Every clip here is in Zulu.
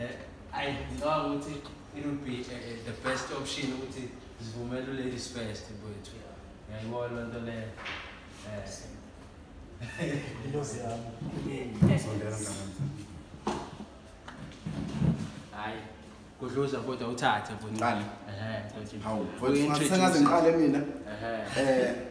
Eh, ayi ngicabanga ukuthi it would be eh, eh, the best option ukuthi zivumele u-ladies first mfowethu ngiyayibona loo nto leyo intozi yami hayi kudluza kodwa uthathe mfowethu sengaze ngiqale mina um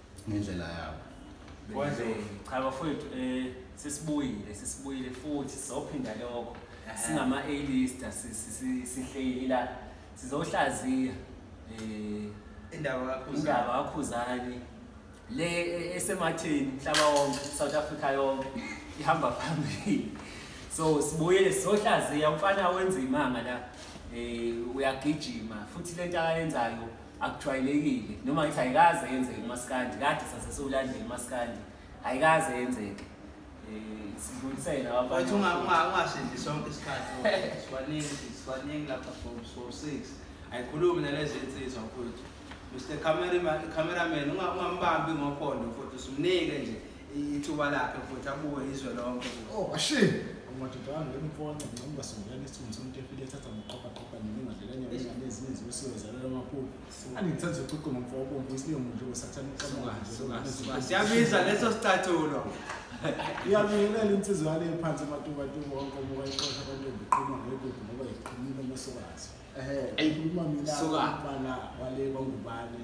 ngendlela yabo cha bafowethu um sesibuyile sesibuyile futhi sizophinda lokho singama-alista sihleli la sizohlaziya um indaba kakhuzani le e, esematheni mhlaba wonke south africa yonke ihamba phambili so sibuyele sizohlaziya umfana wenza imanga la um uyagijima futhi le nto akayenzayo akujwayelekile noma ngithi ayikaze yenzeke umaskandi kade sase siwulandela umaskandi ayikaze yenzeke eh, sidlulisele ababathi ungashindi sonke isikhathi siwaningi siwaningi lapha for for six ayikhulumi nalezi insizwa mfuthu mr cameraman ungambambi ngophondo futhi usimnike nje ithuba lakhe futhi abuke izwe lonke oh ashi umadodana lemfona noma basongelana isithunzi somuntu efile ethatha ngoqoqa qoqa nini ngadlela nyawo ingane ezinye zibisiwe zalelo makhulu angithanda ukuqoqa ngomfo obomvu isiyo umuntu osathana uqoqa siyabiza leso sicathulo iyabingelela insizwa yale phansi amatuba tuba wonke omuka iqoqa abantu ebiqhuma ngegodi ngoba iqhumile amasokazi ehe ayikhuluma mina bana wale kwangubane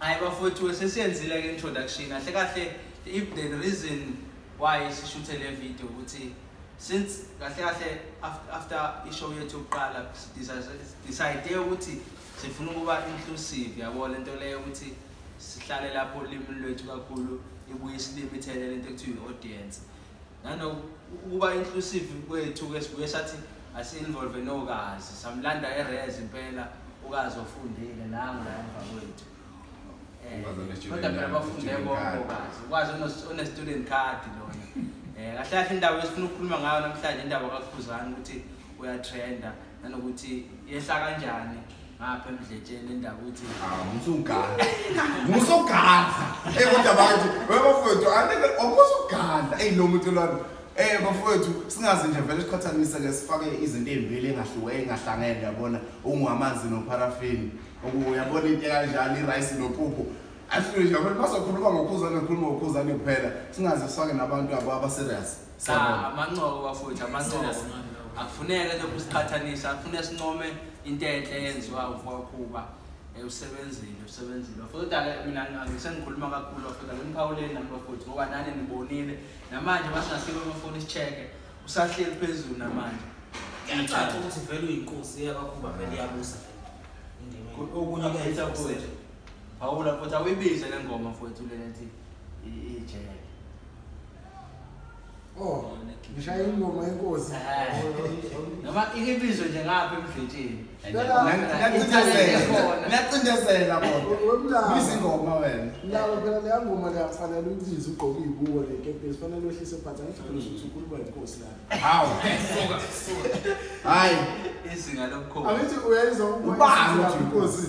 Hayi bafowethu sesiyenzile ke introduction kahle kahle if the reason why sishuthe le video ukuthi since kahle kahle after ishow yethu yokuqala decide ukuthi sifuna ukuba inclusive yabo le nto leyo ukuthi sihlale lapho ulimi lwethu kakhulu ibuye isilimi ithelele into ekuthiwa i-audience nanokuba inclusive kwethu ke sibuye sathi asi-involve nokazi samlanda erez impela ukazi ofundile nangu la emva kwethu eh, kodwa phela bafunde bokazi ukwazi one-student card lona um kahle kahle indaba esifuna ukukhuluma ngayo namhlanje indaba kakhuzane ukuthi uyatrenda nanokuthi yehla kanjani ngapha emdletsheni indaba ukuthi musugadla ah, musugadla ey kodwa abantu webafowethu anike omusugadla eyi lo muntu lona Eh bafowethu singaze nje vele siqhathanise ke sifake izinto ezimbili engahluke engahlangene yabona ungamanzi no paraffin uyabona into kanjani irice no pupu ahlule nje abantu bazokhuluma ngokhuzane khuluma ngokhuzane kuphela singaze sifake nabantu abo abaserious sa amancobo bafowethu amancobo akufuneke lokhu siqhathanisa akufuneke sincome into enhle eyenziwa ukwakhuba eh, usebenzile usebenzile bafowethu-ke mina sengikhuluma kakhulu bafowethu-ke niphawuleni nami bafowethu ngoba nani nibonile namanje masingasike amafoni si-check-e usahleli phezulu namanje kuyacaca ukuthi vele uyinkosi eyakakhuba vele iyabusa okunye kuyayitha futhi phawula futhi awuyibize le ngoma futhi lena ethi ijele Oh, ngishaye ingoma yenkosi. Noma ibizo nje ngapha emdletsheni. Ngiyacindezela bona. Izingoma wena. Lawo phela leya ngoma leya kufanele uyibize ugqoke ibuko le kepesi kufanele wehlise phansi angijabule ukuthi ukhuluma inkosi la. Hawu. Suka suka. Hayi. Izinga lomkhosi. Angithi uyayizwa ukubona inkosi.